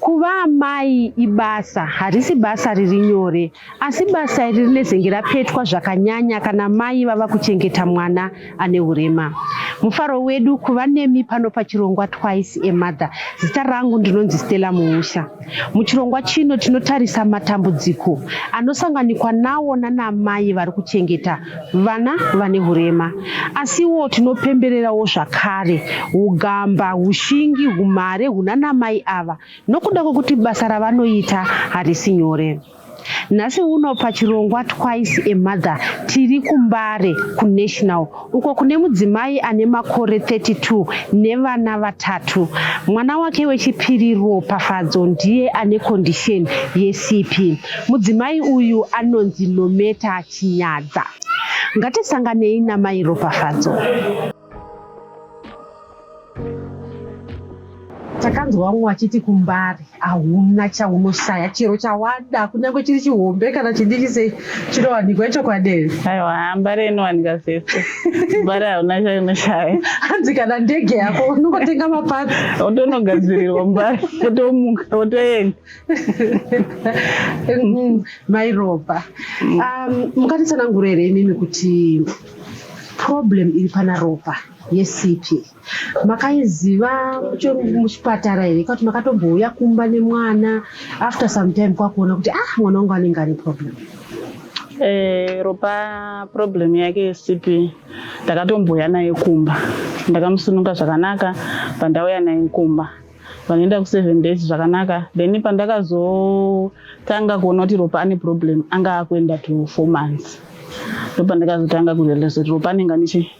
Kuva amai ibasa, harisi basa riri nyore, asi basa iri rinezenge rapetwa zvakanyanya kana mai vava kuchengeta mwana ane hurema. Mufaro wedu kuva nemi pano pachirongwa Twice a Mother. Zita rangu ndinonzi Stella Muusha. Muchirongwa chino tinotarisa matambudziko anosanganikwa nawo nanamai vari kuchengeta vana vane hurema. Asiwo tinopembererawo zvakare ugamba, ushingi, humhare hunanamai ava nokuda kwekuti basa ravanoita harisi nyore. Nhasi uno pachirongwa Twice a Mother tiri kuMbare kuNational uko kune mudzimai ane makore 32 nevana vatatu. Mwana wake wechipiri Ropafadzo ndiye ane kondisheni yeCP. Mudzimai uyu anonzi Nometa Chinyadza. Ngatisanganei naMai Ropafadzo. takanzwa vamwe vachiti kumbari hauna chaunoshaya chero chawada kunyange chiri chihombe kana chidiki sei chinowanikwa ichokwadei aiwa hambare inowanika zvese mbare hauna chaunoshaya hanzi kana ndege yako unongotenga mapatsi otonogadzirirwa mbare otomuka otoenda mm, mairopa um, mukatitsanangura here imimi kuti problem iri pana ropa yesipi makaiziva muchipatara here kwakuti makatombouya kumba nemwana after some time kwakuona kuti ah mwana wangu anenge ane problem Eh, ropa problem yake yesipi ndakatombouya naye kumba ndakamusununga zvakanaka pandauya naye kumba vanoenda ku seven days zvakanaka then pandakazotanga kuona kuti ropa ane problem anga akuenda to four months ndopandakazotanga kurealize kuti ropa anenge anichi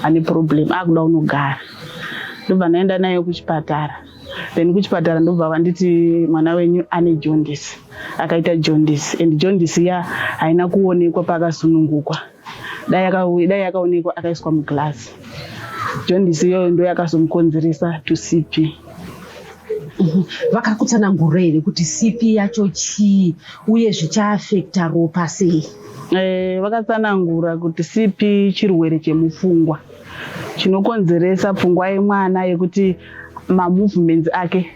ane problem akuda unogara ndobva ndaenda naye kuchipatara then kuchipatara ndobva vanditi mwana wenyu ane jondis akaita jondis and jondis ya haina kuonekwa pakasunungukwa dai yakaonekwa akaiswa muglass jondisi iyoyo ndo yakazomukonzeresa to cp mhm. vakakutsanangura here kuti cp yacho chii uye zvichaafekta ropa sei eh, vakatsanangura kuti cp chirwere chemupfungwa chinokonzeresa pfungwa yemwana yekuti mamovements ake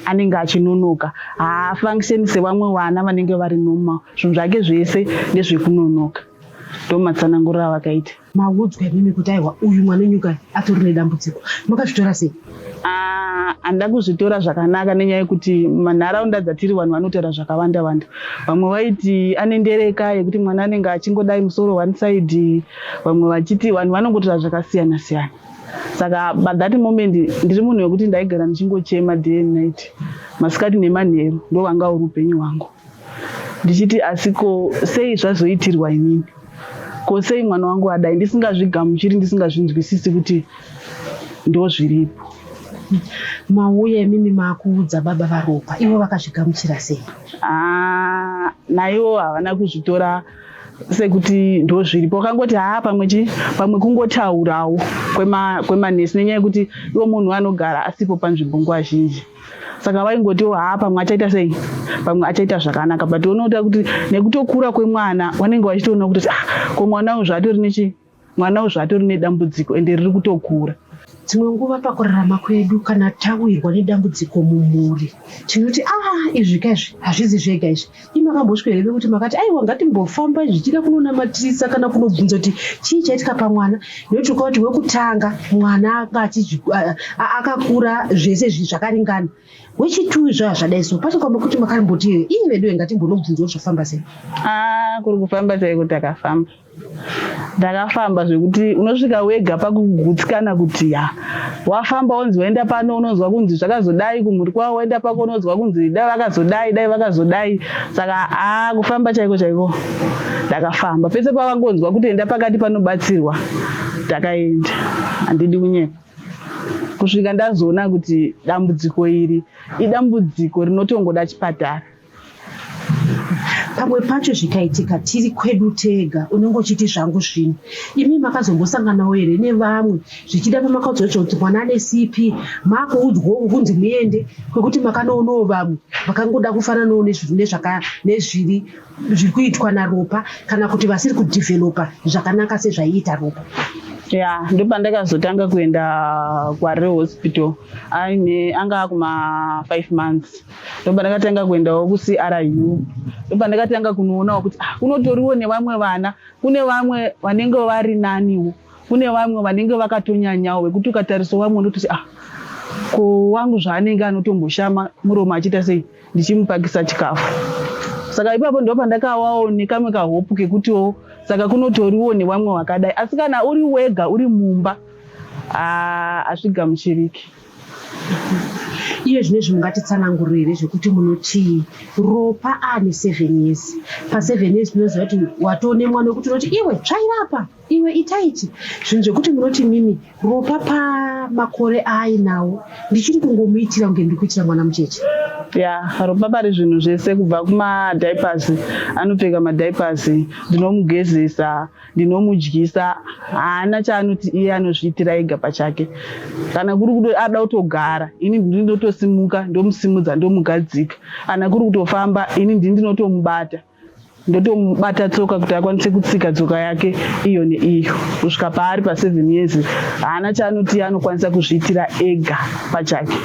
anenge achinonoka haafunctioni sevamwe vana vanenge vari normal zvinhu zvake zvese ndezvekunonoka ndomatsanangurira avakaita maudzwa imimi kuti aiwa uyu mwana nyuka atori nedambudziko makazvitora sei ah, handida kuzvitora zvakanaka nenyaya yekuti manharaunda dzatiri vanhu vanotaura zvakawanda wanda vamwe vaiti ane ndereka yekuti mwana anenge achingodai musoro one side vamwe vachiti vanhu vanongotaura zvakasiyana siyana saka but that moment ndiri munhu wekuti ndaigara ndichingochema day and night masikati nemanheru ndovanga uri upenyu hwangu ndichiti asi ko sei zvazoitirwa inini ko sei mwana wangu adai ndisingazvigamuchiri ndisingazvinzwisisi kuti ndozviripo mauya imimi makuudza baba varopa ivo vakazvigamuchira sei ah, naivo havana kuzvitora sekuti ndozviripo wakangoti haa pamwe chi pamwe kungotaurawo kwemanesi nenyaya yekuti iwo munhu anogara asipo panzvimbo nguva zhinji saka vaingotiwo haa pamwe achaita sei pamwe achaita zvakanaka but unoita kuti nekutokura kwemwana vanenge vachitoona kuti ah, ko mwana uyu zvaatori nechi mwana uyu zvaatori nedambudziko ende riri kutokura dzimwe nguva pakurarama kwedu kana tawirwa nedambudziko mumhuri tinoti ah izvi ka izvi hazvizi zvega izvi Imi makambosvika here kuti makati aiwa ngatimbofamba zvichida kunonamatisa kana kunobvunza kuti chii chaitika pamwana nekuti ukaona kuti wekutanga mwana akakura zvese zvakaringana wechitui zvazvadai so pacho kwamba kuti makamboti ii veduwe ngatimbonobvunza kuti zvafamba sei ah, kuri kufamba chaiko takafamba ndakafamba zvekuti unosvika wega pakugutsikana kuti ya wafamba wonzi waenda pano unonzwa kunzi zvakazodai kumhuri kwavo waenda pako unonzwa kunzi dai vakazodai dai vakazodai saka a kufamba chaiko chaiko ndakafamba pese pavangonzwa kuti enda pakati panobatsirwa ndakaenda handidi kunyepa kusvika ndazoona kuti dambudziko iri idambudziko rinotongoda chipatara pamwe pacho zvikaitika tiri kwedu tega unenge uchiti zvangu zvino imi makazombosanganawo here nevamwe zvichida pamakaudzwacho kuti mwana ane cp makuudzwawo kunzi muende kwekuti makanoonawo vamwe vakangoda kufananawo nezviri zviri kuitwa naropa kana kuti vasiri kudhivhelopa zvakanaka sezvaiita ropa ya ndopandakazotanga kuenda kwarire hospital aine anga akuma five months ndopandakatanga kuendawo kucru ndopandakatanga kunoonawo kuti ah, kunotoriwo nevamwe vana kune vamwe vanenge vari naniwo kune vamwe vanenge vakatonyanyawo vekuti ukatarisa vamwe unototi ah ko wangu zvaanenge anotomboshama muromo achiita sei ndichimupakisa chikafu saka ipapo ndo pandakawawo nekamwe kahopu kekutiwo saka kunotoriwo nevamwe vakadai asi kana uri wega uri mumba hazvigamuchiriki ah, Iye zvine zvinhu ngatitsanangurire zvekuti munoti ropa ane seven years paseven years tinoziva kuti watoone mwana wekuti unoti iwe tsvairapa iwe itaichi zvinhu zvekuti munoti mimi ropa pamakore aainawo ndichiri kungomuitira kunge ndiri kuitira mwana mucheche ya ropa pari zvinhu zvese kubva kumadiapers anopfeka madiapers ndinomugezesa ndinomudyisa haana chaanoti iye anozviitira ega pachake kana kuri kuti ada kutogara ini ndini ndotosimuka ndomusimudza ndomugadzika kana kuri kutofamba ini ndini ndinotomubata ndotomubata tsoka kuti akwanise kutsika tsoka yake iyo neiyo kusvika paari paseven years haana chaanoti iye anokwanisa kuzviitira ega pachake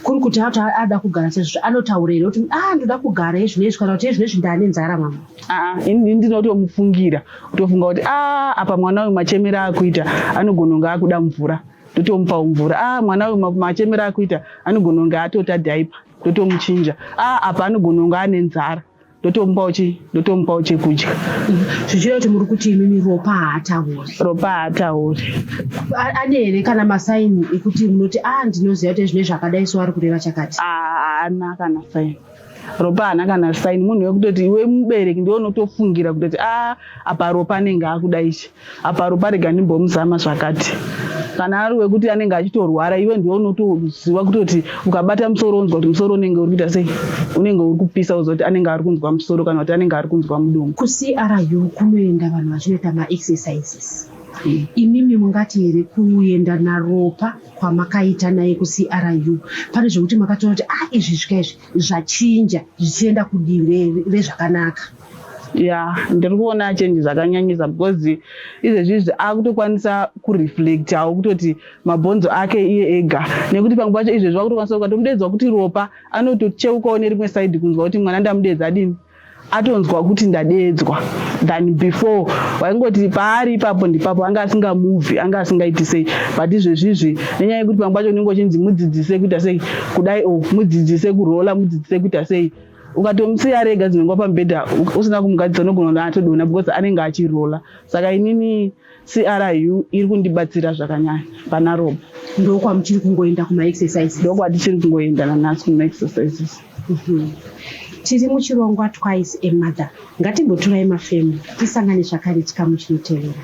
kuri kuti ato ada kugara sezvo anotaura here kuti a ah, ndoda kugara izvinoizvi kana kuti izvinoizvi ndane nzara mama Ah, ini ndinotomufungira kutofunga kuti ah, apa mwana uyu machemera akuita anogona kunge akuda mvura ndotomupawo mvura ah, mwana uyu machemera akuita anogona kunge atota dhaipa ndotomuchinja ah, apa anogona kunge ane nzara ndotomupawo chi ndotomupawo chekudya zvichireva kuti muri kuti imimi ropa haatauri ropa haatauri ane here kana masaini ekuti munoti a ah, ndinoziva kuti zvine zvakadai so ari kureva chakati haana ah, kana saini ropa haana kana saini munhu wekutoti iwe mubereki ndiwe unotofungira kutoti a ah, apa ropa anenge akuda ichi apa ropa rega ndimbomuzama zvakati kana ari wekuti anenge achitorwara iwe ndiwe unotoziva kutoti ukabata musoro unzwa kuti musoro unenge uri kuita sei unenge uri kupisa uziva kuti anenge ari kunzwa musoro kana kuti anenge ari kunzwa mudumbu kucru kunoenda vanhu vachinoita maexercises imimi mungati here kuenda naropa kwamakaita naye kuCRU pane zvekuti makatoona kuti ah izvi zvika izvi zvachinja zvichienda kudivi rezvakanaka ya ndiri kuona change zvakanyanyisa because izvezvizvi akutokwanisa kureflect awo kutoti mabhonzo ake iye ega nekuti pamwe pacho izvezvi wakutokwanisa ukatomudedzwa kuti ropa anotocheukawo nerimwe side kunzwa kuti mwana ndamudeedza adini atonzwa kuti ndadeedzwa than before waingoti paari ipapo ndipapo anga asinga muvi anga asingaiti sei but izvezvizvi nenyaya yekuti pamwe pacho unenge uchinzi mudzidzise kuita sei kudai o mudzidzise kurola mudzidzise kuita sei ukatomusiya rega dzinenge wapamubhedha usina kumugadzisa unogona kuti atodona because anenge achirola saka inini CRU iri kundibatsira zvakanyanya pana Rob. Ndokwamuchiri kungoenda kuma exercises? Ndokwatichiri kungoenda nanasi kuma exercises. Mm -hmm. Tiri muchirongwa twice a mother. Ngatimbotorai mafemo tisangane zvakare chikamu chinotevera.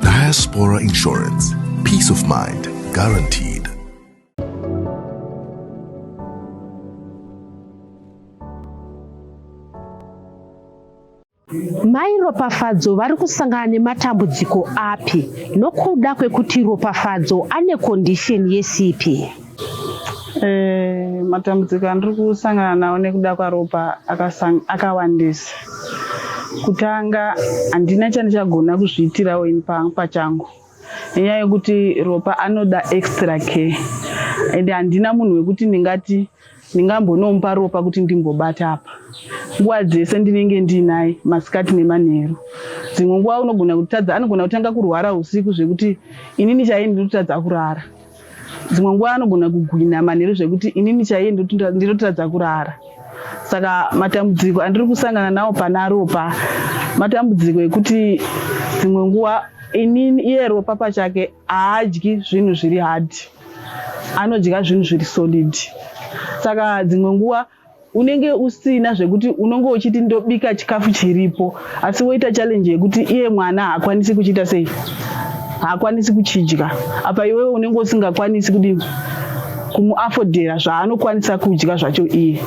Diaspora Insurance. Peace of mind guaranteed. Mai Ropafadzo vari kusangana nematambudziko api nokuda kwekuti Ropafadzo ane condition yesipi? Eh, matambudziko andiri kusangana nawo nekuda kwaropa akawandisa kutanga handina chandichagona kuzviitirawo ini pachangu nenyaya yekuti ropa anoda extra care and handina munhu wekuti ndingati ndingambonomupa ropa kuti ndimbobata apa nguva dzese ndinenge ndiinaye masikati nemanheru dzimwe nguva unogona kutadza anogona kutanga kurwara usiku zvekuti inini chaiye ndiri kutadza kurara Dzimwe nguva anogona kugwina manheru zvekuti inini chaiye ndinotadza kurara. Saka matambudziko andiri kusangana nawo pana Ropa matambudziko ekuti dzimwe nguva inini iye Ropa pachake haadyi zvinhu zviri hard, anodya zvinhu zviri solid. Saka dzimwe nguva unenge usina zvekuti unonge uchiti ndobika chikafu chiripo asi woita challenge yekuti iye mwana haakwanisi kuchiita sei haakwanisi kuchidya apa iwewe unenge usingakwanisi kudini kumuafodhera zvaanokwanisa kudya zvacho iye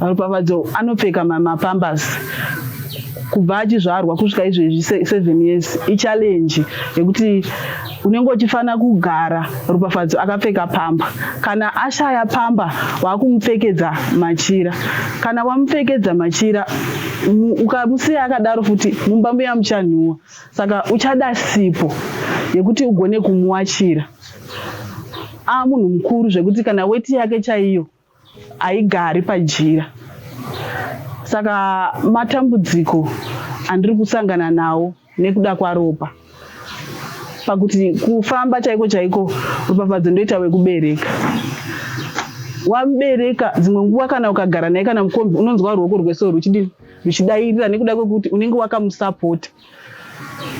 ropafadzo anopfeka mapambers kubva achizvarwa kusvika izvezvi seven years ichallenge yekuti unenge uchifanira kugara ropafadzo akapfeka pamba kana ashaya pamba waakumupfekedza machira kana wamupfekedza machira ukamusiya akadaro futi mumba muya muchanhuwa saka uchada sipo yekuti ugone kumuwachira aa munhu mukuru zvekuti kana weti yake chaiyo haigari pajira saka matambudziko andiri kusangana nawo nekuda kwaropa pakuti kufamba chaiko chaiko rupafadzo ndoita wekubereka wamubereka dzimwe nguva kana ukagara naye kana mukombi unonzwa ruoko rwese ruchidii ruchidairira nekuda kwekuti unenge wakamusapota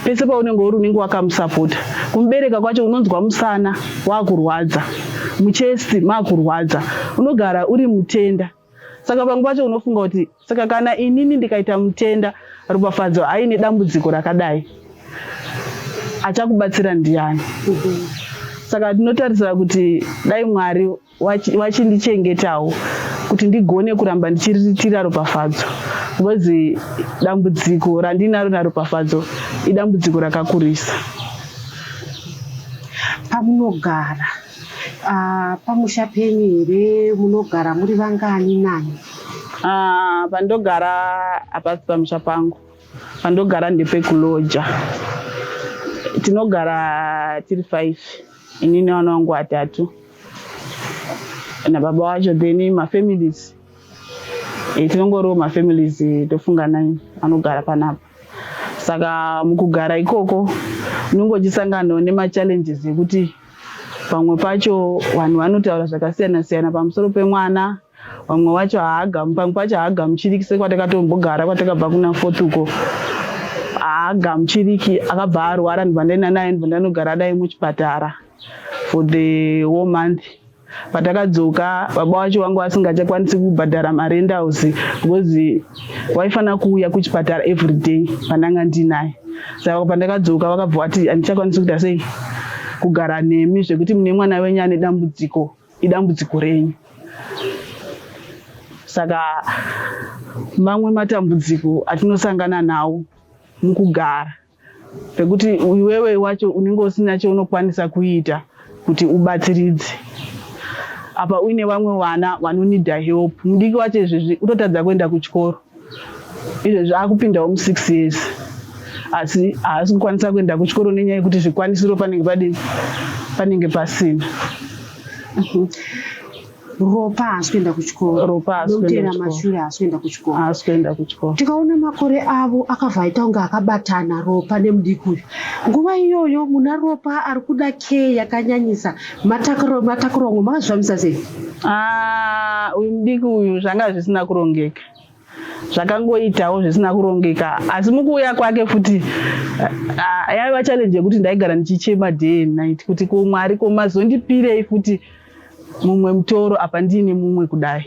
pese paunenge uri unenge wakamusapota kumubereka kwacho unonzwa musana wakurwadza muchesti makurwadza unogara uri mutenda saka pamwe pacho unofunga kuti saka kana inini ndikaita mutenda ropafadzo aine dambudziko rakadai achakubatsira ndiani saka tinotarisira kuti dai mwari vachindichengetawo kuti ndigone kuramba ndichiriritira ropafadzo bcause dambudziko randinaro naropafadzo idambudziko rakakurisa pamunogara ah, pamusha penyu here munogara muri vangani nani ah, pandogara hapasi pamusha pangu pandogara ndepekuloja tinogara tiri five ini nevana vangu vatatu nababa wacho then mafamilies eh, tinongoriwo mafamilies eh, tofunga nai anogara panapa saka mukugara ikoko unenge uchisanganawo nemachallenges ekuti pamwe pacho vanhu vanotaura zvakasiyana siyana pamusoro pemwana vamwe wacho haagamu pamwe pacho haagamuchiriki sekwatakatombogara kwatakabva kuna fort uko haagamuchiriki akabva arwara ndibva ndaenda naye ndibva ndanogara naye muchipatara for the wo month patakadzoka baba wacho vanga vasingachakwanisi kubhadhara marent house because waifanira kuuya kuchipatara every day pandanga ndinaye saka pandakadzoka vakabva vati handichakwanisi kuita sei kugara nemi zvekuti mune mwana wenyu ane dambudziko idambudziko renyu saka mamwe matambudziko atinosangana nawo mukugara pekuti iwewe wacho unenge usina chaunokwanisa kuita kuti ubatsiridze apa uine vamwe vana vanonida help mudiki wacho izvezvi utotadza kuenda kuchikoro izvezvi akupindawo mu six years asi haasi kukwanisa kuenda kuchikoro nenyaya yekuti zvikwanisiro panenge padii panenge pasina mhm. ropa haasi kuenda kuchikoro ropa haasikuenda mashure haasi kuenda kuchikoro haasi kuenda kuchikoro tikaona makore avo akabva aita kunge akabatana ropa nemudiki uyu nguva iyoyo muna ropa ari kuda care yakanyanyisa Matakuro, matakuro wangu makazvifambisa sei? Ah, uyu mudiki uyu zvanga zvisina kurongeka zvakangoitawo zvisina kurongeka asi mukuuya kwake futi ah, ah, yaiva challenge yekuti ndaigara ndichichema day and night kuti ko mwari ko mazondipirei futi mumwe mutoro apa ndiine mumwe kudai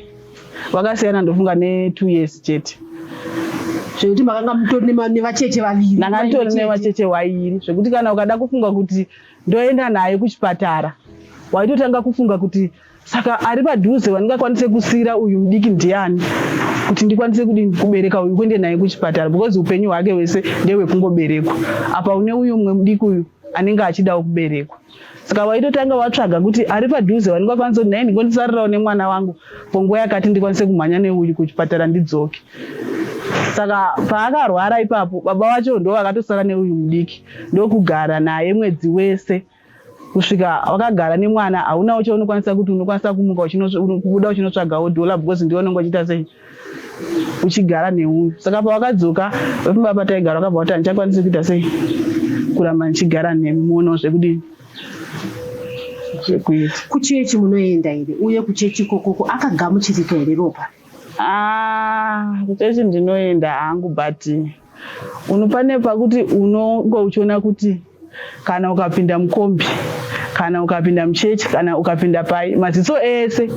wakasiyana ndofunga netwo years chete zvekuti makanga mutori nevacheche vaviri ndanga nditori nevacheche vairi zvekuti kana ukada kufunga kuti ndoenda naye kuchipatara waitotanga kufunga kuti saka ari padhuze wandingakwanise kusiira uyu mudiki ndiani kuti ndikwanise kudii kubereka uyu kuende naye kuchipatara because upenyu hwake hwese ndehwekungoberekwa apa une uyu umwe mudiki uyu anenge achidawo kuberekwa saka waitotanga watsvaga kuti ari padhuze wandingakwanise kuti naye ndikondisarirawo nemwana wangu ponguva yakati ndikwanise kumhanya neuyu kuchipatara ndidzoke saka paakarwara ipapo baba vacho ndo vakatosara neuyu mudiki ndokugara naye mwedzi wese kusvika wakagara nemwana haunawo chaunokwanisa kuti unokwanisa kumuka uchibuda uchinotsvagawo dhola because ndiwe unenge uchiita sei uchigara neuyu saka pawakadzoka vepamba pataigara wakabva kuti handichakwanisi kuita sei kuramba ndichigara nemi muonawo zvekudini zvekuita kuchechi munoenda here uye kuchechi ikokoko akagamuchirika here ropa ah, kuchechi ndinoenda hangu but Unofane pakuti unonga uchiona kuti kana ukapinda mukombi kana ukapinda muchechi kana ukapinda pai maziso ese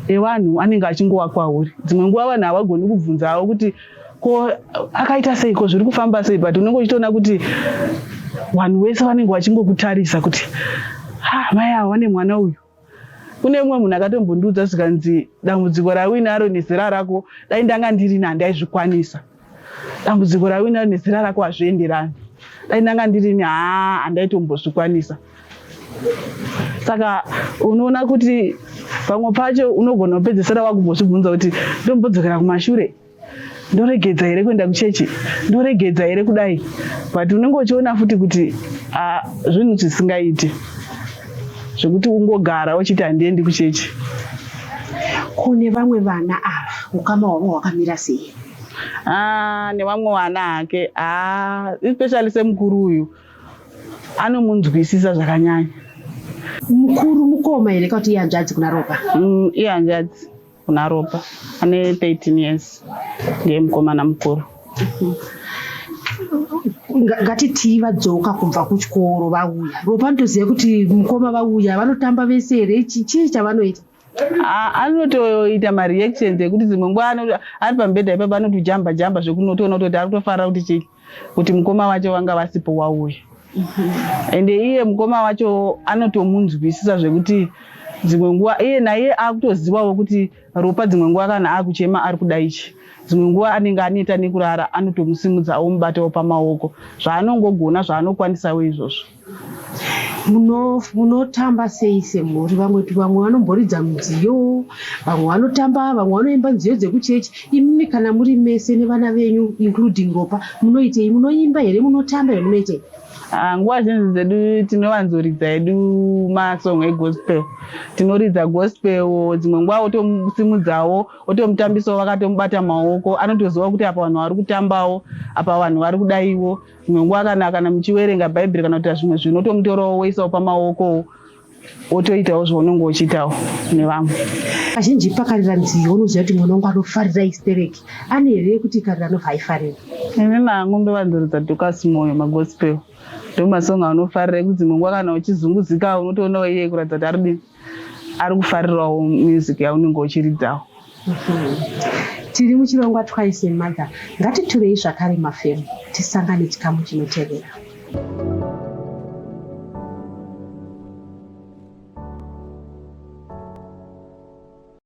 evanhu anenge achingova kwauri dzimwe nguva vanhu havagoni kubvunzawo kuti ko akaita sei ko zviri kufamba sei but unenge uchitoona kuti vanhu vese vanenge vachingokutarisa kuti ha mai avo vane mwana uyu kune umwe munhu akatombondiudza zvikanzi dambudziko rawinaro nezera rako dai ndanga ndirina handaizvikwanisa dambudziko rawinaro nezera rako hazvienderani dai ndanga ndirini haa handaitombozvikwanisa saka unoona kuti pamwe pacho unogona kupedzesera wakumbozvibvunza kuti ndombodzokera kumashure ndoregedza here kuenda kuchechi ndoregedza here kudai but unenge uchiona futi kuti ah, zvinhu zvisingaiti zvekuti ungogara uchiti handiendi kuchechi kune vamwe vana ava ukama hwavo hwakamira sei ah, nevamwe vana hake ah, especially semukuru uyu anomunzwisisa zvakanyanya mukuru mukoma here kauti ihanzvadzi kuna ropa mm, ihanzvadzi kuna Ropa ane 13 years ndiye mukomana mukuru ngatitii vadzoka kubva kuchikoro vauya ropa ndoziva kuti mukoma vauya vanotamba vese here chii chavanoita anotoita mareactions ekuti dzimwe nguva ari pambedha ipapa anotijamba jamba zvekunotoona kutoti ari kutofarira kuti chii kuti mukoma vacho vanga vasipo wauya and iye mukoma wacho anotomunzwisisa zvekuti dzimwe nguva iye naiye akutozivawo kuti ropa dzimwe nguva kana akuchema ari kuda ichi dzimwe nguva anenge aneta nekurara anotomusimudza omubatawo pamaoko zvaanongogona zvaanokwanisawo izvozvo munotamba muno sei semhuri vamwe vamwe vanomboridza mudziyo vamwe vanotamba vamwe vanoimba nziyo dzekuchechi imimi kana muri mese nevana venyu including ropa munoitei munoimba here munotamba here munoitei ah, nguva zhinji dzedu tinowanzoridza edu masong egospel tinoridza gospel dzimwe nguva otosimudzawo otomutambisawo vakatomubata maoko anotoziva kuti apa vanhu vari kutambawo apa vanhu vari kudaiwo Imwe nguva kana kana muchiverenga Bhaibheri kana kuita zvimwe zvinhu unotomutorawo woisawo pamaokowo wotoitawo zvaunenge uchiitawo nevamwe. Kazhinji pakarira nziyo unoziva kuti mwana wangu anofarira istereki ane here yekuti ikarira anobva aifarira? Ini nangu ndovanduridza Dukas Moyo magospel ndomasong aunofarira ekuti dzimwe nguva kana uchizunguzika unotoona iye kuratidza kuti arudini. ari kufarirawo music yaunenge uchiridzawo tiri muchirongwa twice a mother ngatiturei zvakare mafemo tisangane chikamu chinotevera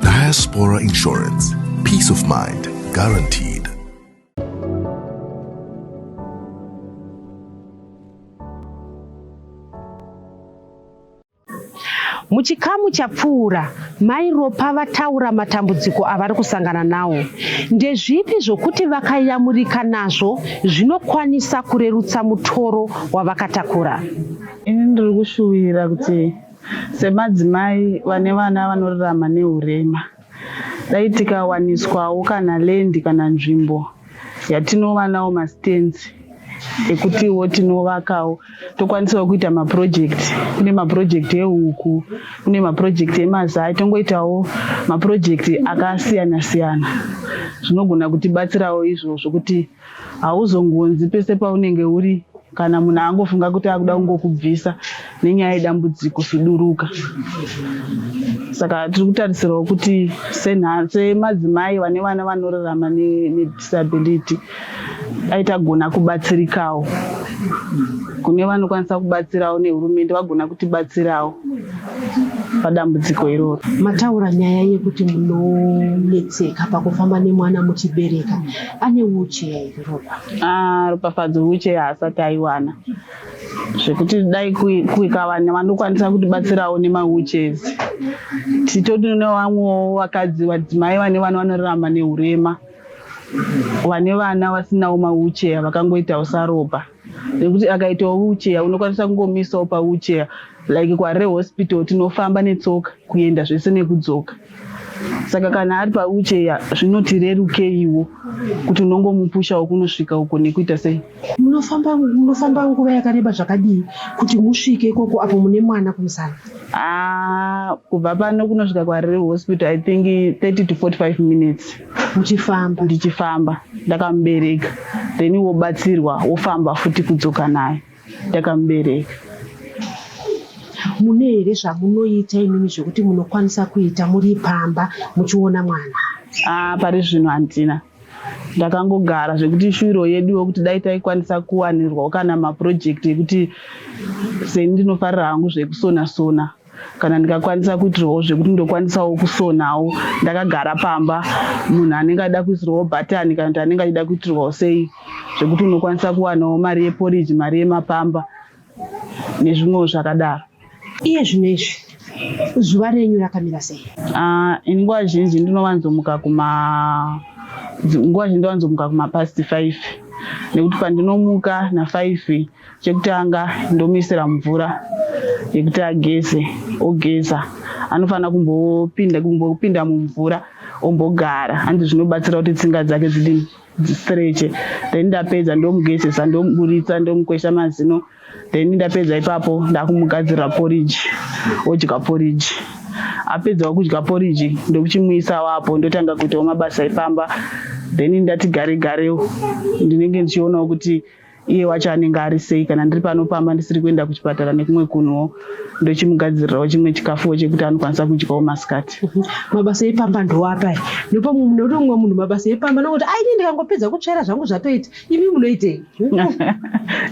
Diaspora Insurance. Peace of mind guaranteed. Muchikamu chapfuura, Mai Ropa vataura matambudziko avari kusangana nawo. Ndezvipi zvokuti vakayamurika nazvo zvinokwanisa kurerutsa mutoro wavakatakura? Ini ndiri kushuvira kuti semadzimai vane vana vanorarama neurema, Dai tikawaniswawo kana land kana nzvimbo yatinova nawo mastands ekutiwo tinovakawo tokwanisawo kuita maproject kune maproject ehuku kune maproject emazai tongoitawo maproject akasiyana siyana zvinogona kutibatsirawo izvozvo kuti Hauzongonzi pese paunenge uri kana munhu angofunga kuti akuda kungokubvisa nenyaya yedambudziko suduruka saka tiri kutarisirawo kuti semadzimai vane vana vanorarama nedisability dai tagona kubatsirikawo kune vanokwanisa kubatsirawo nehurumende vagona kutibatsirawo padambudziko iroro mataura nyaya yekuti munonetseka pakufamba nemwana muchibereka ane wheelchair here Ropa? Ah, Ropafadzo wheelchair haasati aiwana zvekuti dai kuikava vanokwanisa kutibatsirawo nemawheelchairs titoti nevamwewo vakadzi vadzimai vane vana vanorarama neurema vane vana vasinawo mawheelchair vakangoitawo saropa nekuti akaitawo wheelchair unokwanisa kungomisawo pawheelchair like kware hospital tinofamba netsoka kuenda zvese nekudzoka saka kana ari pawheelchair zvinotirerukeiwo kuti unongomupushawo kunosvika uko nekuita sei munofamba munofamba nguva yakareba zvakadii kuti musvike ikoko apo mune mwana kumusana ah, kubva pano kunosvika kwarere hospital i think 30 to 45 minutes uchifamba ndichifamba ndakamubereka then wobatsirwa wofamba futi kudzoka nayo ndakamubereka mune here zvamunoita imimi zvekuti munokwanisa kuita muri pamba muchiona mwana ah, pari zvino handina ndakangogara zvekuti shuviro yedu yokuti dai taikwanisa kuwanirwawo kana mapurojekti ekuti seni ndinofarira hangu zvekusona sona kana ndikakwanisa kuitirwawo zvekuti ndokwanisawo kusonawo ndakagara pamba munhu anenge aida kuisirwawo bhatani kana kuti anenge achida kuitirwawo sei zvekuti unokwanisa kuwanawo mari yeporiji mari yemapamba nezvimwewo zvakadaro iye zvino izvi zuva renyu rakamira sei ah, ini nguva zhinji ndinovanzomuka kuma nguva zhinji ndovanzomuka kumapast five nekuti pandinomuka nafive Chekutanga ndomuisira mvura yekuti ageze ogeza anofanira kumbopinda kumbopinda mumvura ombogara handi zvinobatsira kuti tsinga dzake dzidi stretch then ndapedza ndomugezesa ndomuburitsa ndomukwesha mazino then ndapedza ipapo ndakumugadzirira porridge odya porridge apedzawo kudya porridge ndokuchimuisa wapo ndotanga kuitawo mabasa epamba then ndati gare garewo ndinenge ndichionawo kuti gare, iye wacho anenge ari sei kana ndiri pano pamba ndisiri kuenda kuchipatara nekumwe kunhuwo ndochimugadzirirawo chimwe chikafuwo chekuti anokwanisa kudyawo masikati mhm. mabasa epamba ndoapai nepamwe nekuti mumwe munhu mabasa epamba nokuti aini ndikangopedza kutsvaira zvangu zvatoita imi munoitei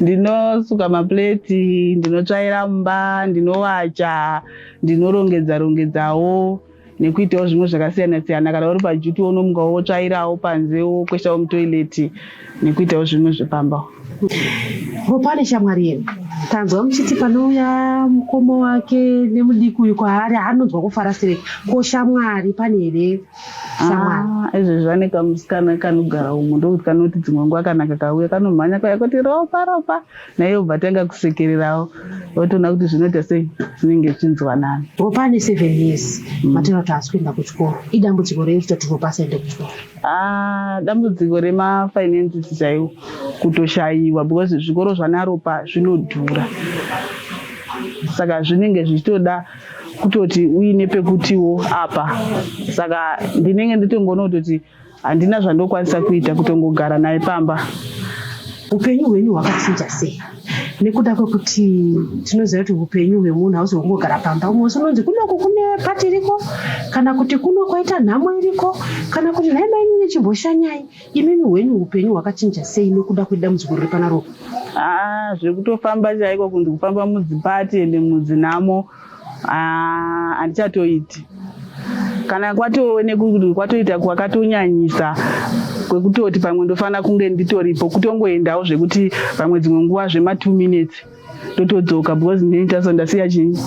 ndinosuka mapleti ndinotsvaira mumba ndinowacha ndinorongedza rongedzawo nekuitawo zvimwe zvakasiyana siyana kana uri pajuti unomuka wotsvairawo panze wokweshawo mutoileti nekuitawo zvimwe zvepamba vopane shamwari yenu tanzwa muchiti panouya mukoma wake nemudiki uyu kwaari anonzwa kufara sei ko shamwari pane here ah, izvezvi vane kamusikana kanogara umu ndokuti kanoti dzimwe nguva kana kakauya kanomhanya kaya kuti ropa ropa naiye obva tanga kusekererawo otoona kuti zvinoita sei zvinenge zvichinzwanana ropane seven years mm. matero kuti haasi kuenda kuchikoro idambudziko rei kutoti ropa asaende kuchikoro ah, dambudziko remafinances chaiwo kutoshayiwa because zvikoro zvanaropa zvinodhura saka zvinenge zvichitoda kutoti uine pekutiwo apa saka ndinenge nditongoona kutoti handina zvandokwanisa kuita kutongogara naye pamba upenyu hwenyu hwakachinja sei nekuda kwekuti tinoziva kuti upenyu hwemunhu hausi hwekungogara pamba umwe usi unonzi kunoku kune pati iriko kana kuti kuno kwaita nhamo iriko kana kuti nhai mainyu nechimboshanyai imimi hwenyu upenyu hwakachinja sei nekuda kwedambudziko riri panaro aa ah, zvekutofamba chaiko kunzi kufamba mudzipati ende mudzinhamo ah, handichatoiti kana kwatove nekuti kwatoita kwakatonyanyisa kwekutoti pamwe ndofanira kunge nditoripo kutongoendawo zvekuti pamwe dzimwe nguva zvema two minutes ndotodzoka because ndini taso ndasiya chii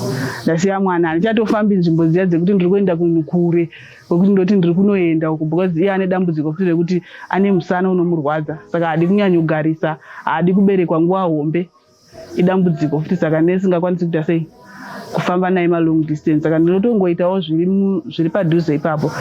ndasiya mwana handichatofambi nzvimbo dziya dzekuti ndiri kuenda kunhu kure kwekuti ndoti ndiri kunoenda uku because iye ane dambudziko futi rekuti ane musana unomurwadza saka haadi kunyanyogarisa haadi kuberekwa nguva hombe idambudziko futi saka nesingakwanisi kuita sei kufamba naye malong distance saka ndinotongoitawo zviri padhuze ipapo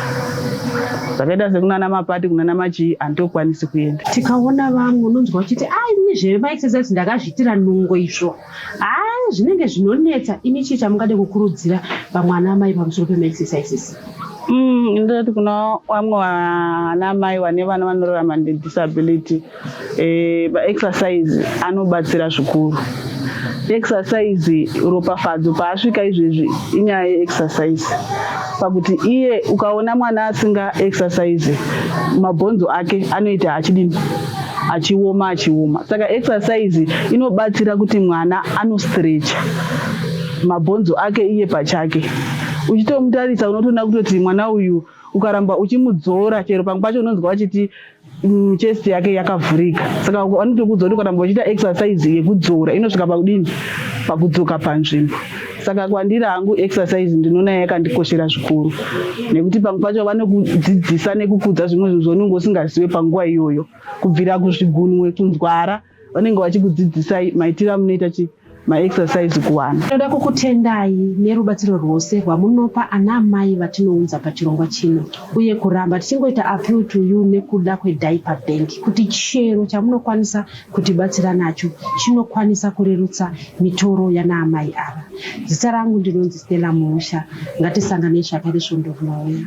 zvakaita sekunana mapati kunana machii handitokwanisi kuenda tikaona vamwe unonzwa uchiti a ini zvemaexercise ndakazviitira nungo izvo haa zvinenge zvinonetsa ini chii chamungade kukurudzira vamwe ana amai pamusoro pemaexercises mm, ndoti kuna vamwe vana amai vane vana vanorarama nedisability Eh, maexercise anobatsira zvikuru exercise ropafadzo paasvika izvezvi inyaya yeexercise pakuti iye ukaona mwana asinga exercise mabhonzo ake anoita achidini achioma achioma saka exercise inobatsira kuti mwana anostrecha mabhonzo ake iye pachake uchitomutarisa unotoona kutoti mwana uyu ukaramba uchimudzora chero pamwe pacho unonzwa vachiti Mm, chest yake yakavhurika saka anotokuudza kuti kana muchiita exercise yekudzora inosvika pakudini pakudzoka panzvimbo saka kwandiri hangu exercise ndinoona yakandikoshera zvikuru nekuti pamwe pacho vanokudzidzisa nekukudza zvimwe zvinhu zvaunenge usingazive panguva iyoyo kubvira kuzvigunwe kunzwara vanenge vachikudzidzisai maitiro amunoita chi maexercise kuwana tinoda kukutendai nerubatsiro rwose rwamunopa ana amai vatinounza pachirongwa chino uye kuramba tichingoita appeal to you nekuda kwediaper bank kuti chero chamunokwanisa kutibatsira nacho chinokwanisa kurerutsa mitoro yana amai ava zita rangu ndinonzi stella muusha ngatisanganei zvakare svondo rinouya